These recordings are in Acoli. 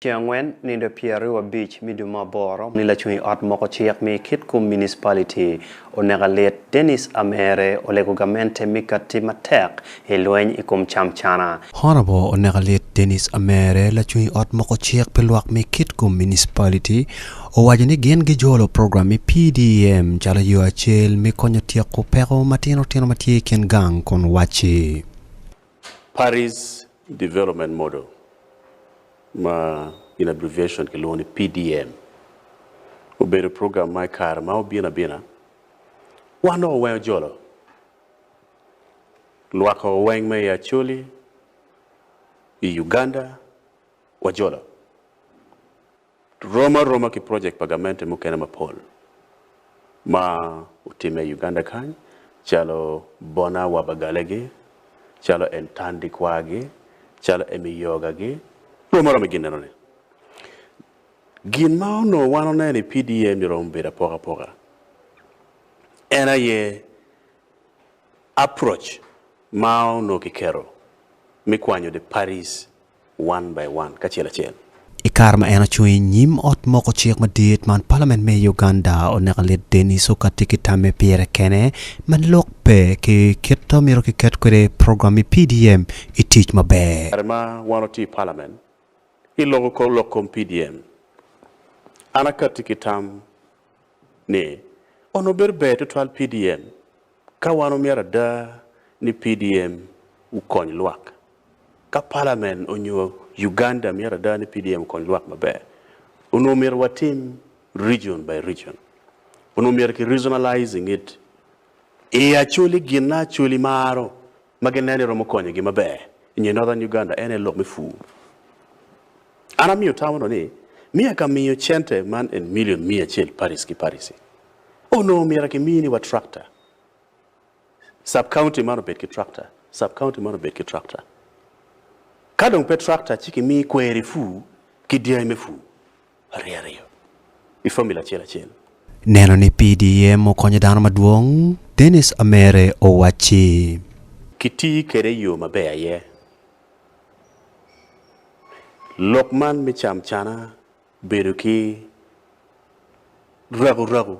Ceng angwen nindo pyeraryo abic me dwe me aboro ni lacung i ot moko cik me kit kum municipality oneka lit Dennis Amere olego gamente me kati matek i lweny i kum cam cana. Honorable oneka lit Dennis Amere lacung i ot moko cik pi lwak me kit kum municipality owaco ni gin gi jolo program me PDEM calo yo acel me konyo tyeko peko matino tino matye i kin gang kun waci. Parties Development Model ma in abbreviation kilwongo ni PDM obedo program ma i kare ma obino abina wan dong oweng ojolo lwakko oweng me i Acholi, i Uganda wajolo. rom aroma ki projek pa gamente mukene mapol ma otimme i Uganda kany calo Bona wa Bagalegi, calo Entandi kwagi, calo Emi Yogagi, rom aroma i ginneno ni. Gin ma onongo wan oneno i PDA ni romo bedo apoka apoka en aye approach ma onongo kiketo me kwanyo the parties one by one, kacel acel. I kare ma en ocung i nyim ot moko cik madit man, palament me Uganda oneka lit Denis Oka tye ki tamme pire kene ma lok pe ki kit ma myero kiket kwede program me PDM i tic maber. Kare ma wan watye i palament, iloko kor lok kom PDM. An akatti ki tam ni onongo bedo ber tutwal PDM Ka wan omyero ada ni PDM wukony lwak, ka Palamen onyo Uganda myero ada ni PDM okony lwak maber, onongo omyero watim region by region. Onongo omyero ki regionalizing it. I Acholi ginna Acholi maro ma ginen ni romo konyogi maber i nge Northern Uganda en aye lok me pur. An amiyo tamo dong ni miya ka miyo cente man en milion miya acel paric ki paric-ci. Onongo myero akimi ni wa tractor, sub-county man obed ki tractor, sub-county man obed ki tractor. Ka dong pe tractor ci kimi kweri pur ki dyangi me pur. ariyariyo i fomula acel acel. Neno ni PDM okonyo dano madwong, Denis Amere owacci. Kitii kwede i yo maber aye. Lok man me camcana bedo ki rakurraku,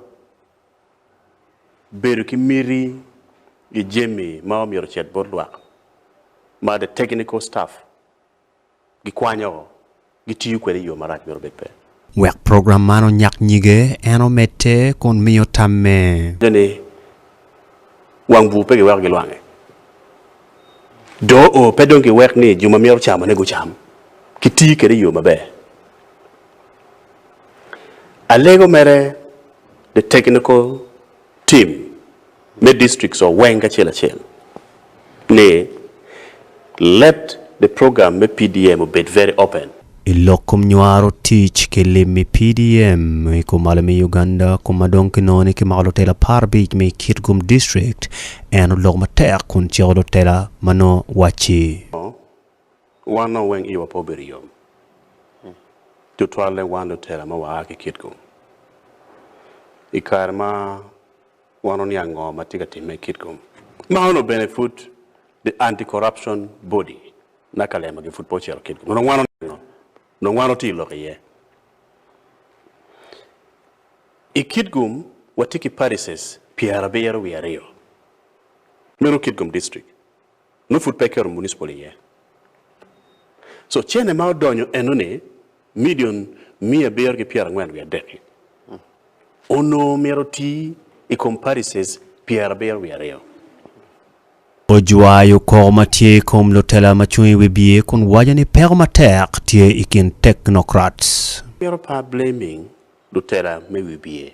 bedo ki miti i jami ma omyero ocit bot lwak ma the technical staff gikwanyo o, gitiyo kwede i yo marac mito bed pe. Wek program man onyak nyige, en omedde kun miyo tamme. Nyuto ni wang bur pe giweko gilwange. Doo o pe dong giwek ni jo ma myero ocamone gucam, kitiyo kwede i yo maber. Alego mere, The Technical tim me districts wa weng kacel acel ni let the program me PDM obed very open. I lok kom nywaro tic ki lim me PDM i kom malo me Uganda kom ma dong kinongo ni kimako lutela apar abic me i Kitgum District, en oloko matek kun ciko lutela ma nongo wacci. wan dong weng iwa pe obedo yom, tutwalle wan lutela ma waa ki Kitgum. I kare ma wan oniang ngo ma tye ka timme i Kitgum, ma onongo bene pud the anti-corruption body na Kalema gi pud pe ocito Kitgum, onongo wan oniango, onongo wan otye lok iye. I Kitgum watye ki parishes pyerabiro wiye aryo, meno Kitgum district, nongo pud pe eketo municipal iye. Co cene ma odonyo enoni milion miya abiro ki pyerangwen wiye adek-ki onongo myero oti i kom parishes pyerabiro wiye aryo. Ojwayo koko ma tye i kom lutela ma cung i wi biye kun waco ni peko matek tye i kin Technocrats. Myero par blaming lutela me wi biye.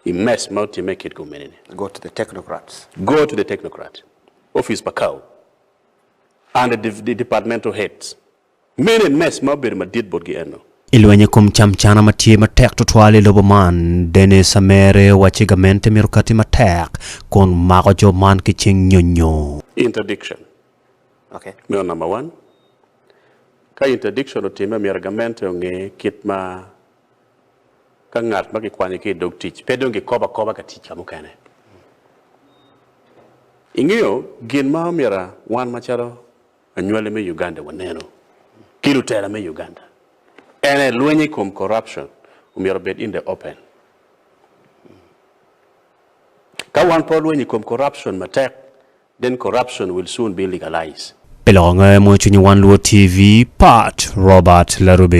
i mess ma otimme i kit komuniti. Go to the technocrats. Go to the technocrats. Office pa Cow and the departmental heads. Mene mess ma obedo madit botgi eno. I lweny i kom camcana ma tye matek tutwal i lobo man, Dennis Amere owacci gamente myero okati matek kun mako jo man ki cing nyonyo. Interdiction meno number one. Ka interdiction otimme myero gamente onge kit ma. Ka ngat ma kikwanyo ki i dog tic pe dong kikobo akoba ka tic ka mukene, ingeyo gin ma omyero wan macalo anywali me Uganda wanenu ki lutela me Uganda ene lweny i kom corruption omyero obed in the open. Ka wan pe walweny i kom corruption matek then corruption will soon be legalized. Pi loko nge mo cwinyi wan luwo TV, Pat Robert Larube.